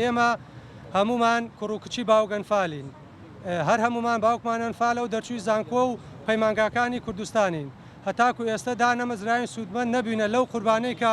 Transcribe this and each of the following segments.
ئێمە هەموومان کوڕ و کچی باوک ئەنفالین، هەر هەموومان باوکمان ئەنفالە و دەرچووی زانکۆ و پەیمانگاکانی کوردستانین، هەتاکو ئێستە دانەمەزراوین سوودمەند نەبووینە لەو قوربانیەی کە.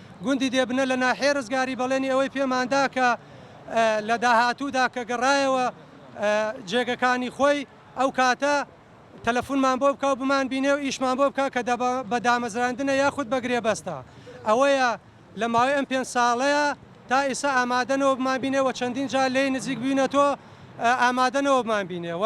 گوندی دێبنە لە ناحیەی رزگاری بەڵێنی ئەوەی پێماندا کە لە داهاتوودا کە گەڕایەوە جێگەکانی خۆی ئەو کاتە تەلەفونمان بۆ بکا و بمانبینێ و ئیشمان بۆ بکا کە بە دامەزراندنە یاخود بە گرێبەستە ئەوەیە لە ماوەی ئەم پێنج ساڵەیە تا ئیسا ئامادەنەوە بمانبینێ و چەندین جار لێی نزیک بووینەتۆ ئامادەنەوە بمانبینێ و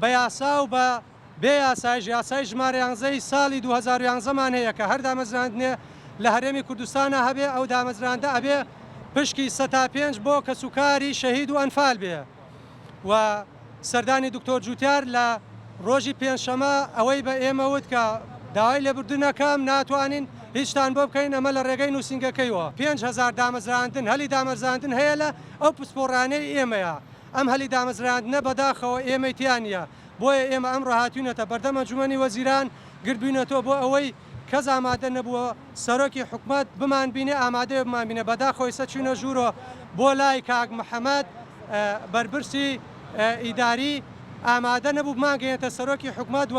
بە یاسا و بە بێ یاسایش، یاسای ژمارە یانزە ی ساڵی دوو هەزار و یانزە مان هەیە کە هەر دامەزراندنێ لە هەرێمی کوردستانا هەبێ ئەو دامەزراندە ئەبێ پشکی سە تا پێنج بۆ کەس و کاری شەهید و ئەنفال بێ و سەردانی دکتۆر جوتیار لە ڕۆژی پێنجشەمە ئەوەی بە ئێمە وت کە داوای لێبوردن ئەکەم ناتوانین هیچتان بۆ بکەین ئەمە لە ڕێگەی نوسینگەکەیوە پێنج هەزار دامەزراندن هەلی دامەرزاندن هەیە لە ئەو پسپۆڕانەی ئێمەیە ئەم هەلی دامەزراندنە بەداخەوە ئێمەی تیا نیە، بۆیە ئێمە ئەمڕۆ هاتوینەتە بەردەم ئەنجومەنی وەزیران، گردبوینەتەوە بۆ ئەوەی کەس ئامادە نەبووە سەرۆکی حکومەت بمانبینێ ئامادەبێ بمانبینێ، بەداخەوە ئیستا چوینە ژورۆ بۆ لای کاک محمد بەرپرسی ئیداری ئامادە نەبوو بمانگەینێتە سەرۆکی حکومەت و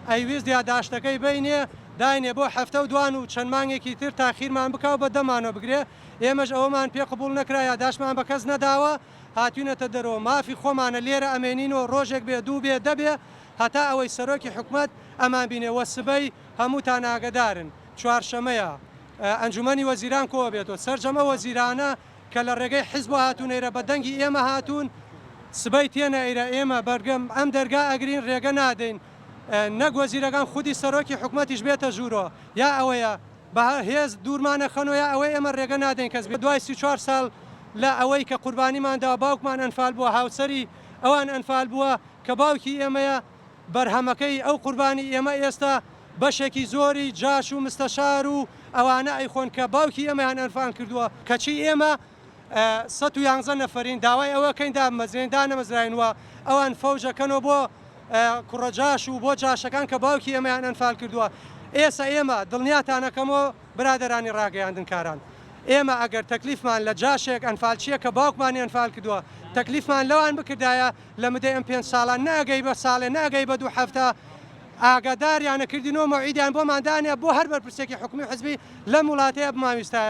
ئەیویست یاداشتەکەی بەینێ داینێ بۆ هەفتەو دوان و چەند مانگێکی تر تاخیرمان بکاو بەدەمانەوە بگرێ، ئێمەش ئەوەمان پێ قبوڵ نەکرا یاداشتمان بەکەس نەداوە، هاتوینەتە دەرەوە مافی خۆمانە لێرە ئەمێنین و ڕۆژێک بێ دوو بێ دە بێ هەتا ئەوەی سەرۆکی حکومەت ئەمان بینێ وە سبەی هەمووتان ئاگەدارن چوارشەمەیە ئەنجومەنی وەزیران کۆ ئەبێت و سەرجەم ئەو وەزیرانە کە لە ڕێگەی حیزبەوە هاتونەیرە بە دەنگی ئێمە هاتوون سبەی تێنە ئەیرە ئێمە بەرگەم ئەم دەرگا ئەگرین ڕێگە نادەین نەک وەزیرەکان خودی سەرۆکی حکومەتیش بێتە ژوورۆ یا ئەوەیە بە هێز دوورمانە خەنۆ یا ئەوەی ئێمە رێگە نادەین کەس بێت دوای سی و چوار ساڵ لە ئەوەی کە قوربانیمان داوە باوکمان ئەنفال بووە هاوسەری ئەوان ئەنفال بووە کە باوکی ئێمەیە بەرهەمەکەی ئەو قوربانی ئێمە ئێستا بەشێکی زۆری جاش و مستەشار و ئەوانە ئەیخۆن کە باوکی ئێمەیان ئەنفان کردووە کەچی ئێمە سەد و یانزە نەفەرین داوای ئەوەکەین دابمەزرێن دانەمەزراین و ئەوان فەوجە کەنەوە بۆ کوڕە جاش و بۆ جاشەکان کە باوکی ئێمەیان ئەنفال کردووە ئێسە ئێمە دڵنیاتانەکەمۆ برادەرانی ڕاگەیاندن کاران ئێمە ئەگەر تەکلیفمان لە جاشێک ئەنفالچیە کە باوکمانی ئەنفال کردووە تەکلیفمان لەوان بکردایە لە مدەی ئەم پێنج ساڵان نەئەگەی بە ساڵێ نەئەگەی بە دوو هەفتە ئاگاداریانە کردینەوە مەوعیدیان بۆمان دانێ بۆ هەر بەرپرسێکی حکومی حزبی لەم وڵاتەیە بمانویستایە.